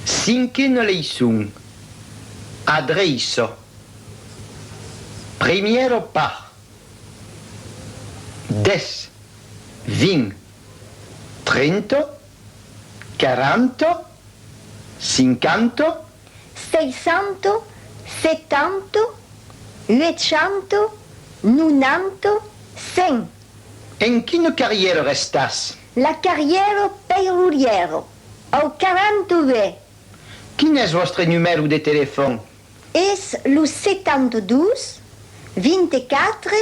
Cinquena leiçon, adreiça. Primièra part, dètz, vint, trenta, quaranta, cinquanta. Seisanta, setanta, uechanta, nonanta, cent. En quina carrièra restàs? La carrièra peirurièra. Au 42. Quin es vòstre numèro de telefòn? Es lo 72 24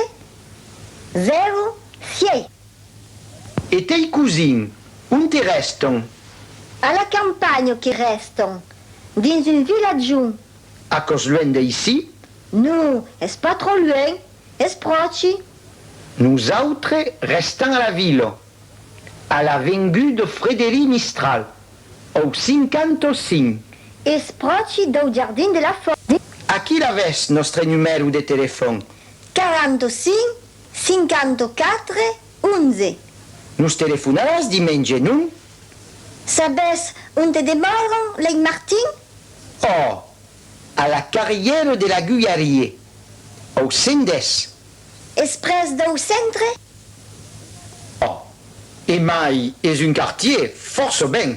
0 sièit. E tei cosins, onte rèston? A la campanha que rèston, dins un vilatjon. Aquò's luènh d'aicí? Non, es pas tròp luènh, es pròchi. Nosautres rèstam a la vila. A la vengut de Frederic Mistral, au 55. Espròchi dau jardin de la Fòrja. Aquí l'avètz, nòstre numèro de telefòn. 45 54 11. Nos telefonaràs dimenge, non? Sabètz onte demòran lei Martin? Òh! A la carrièra de l'Agullarier, au 110. Es pres dau centre? Oh! Emai es un quartier fòrça ben!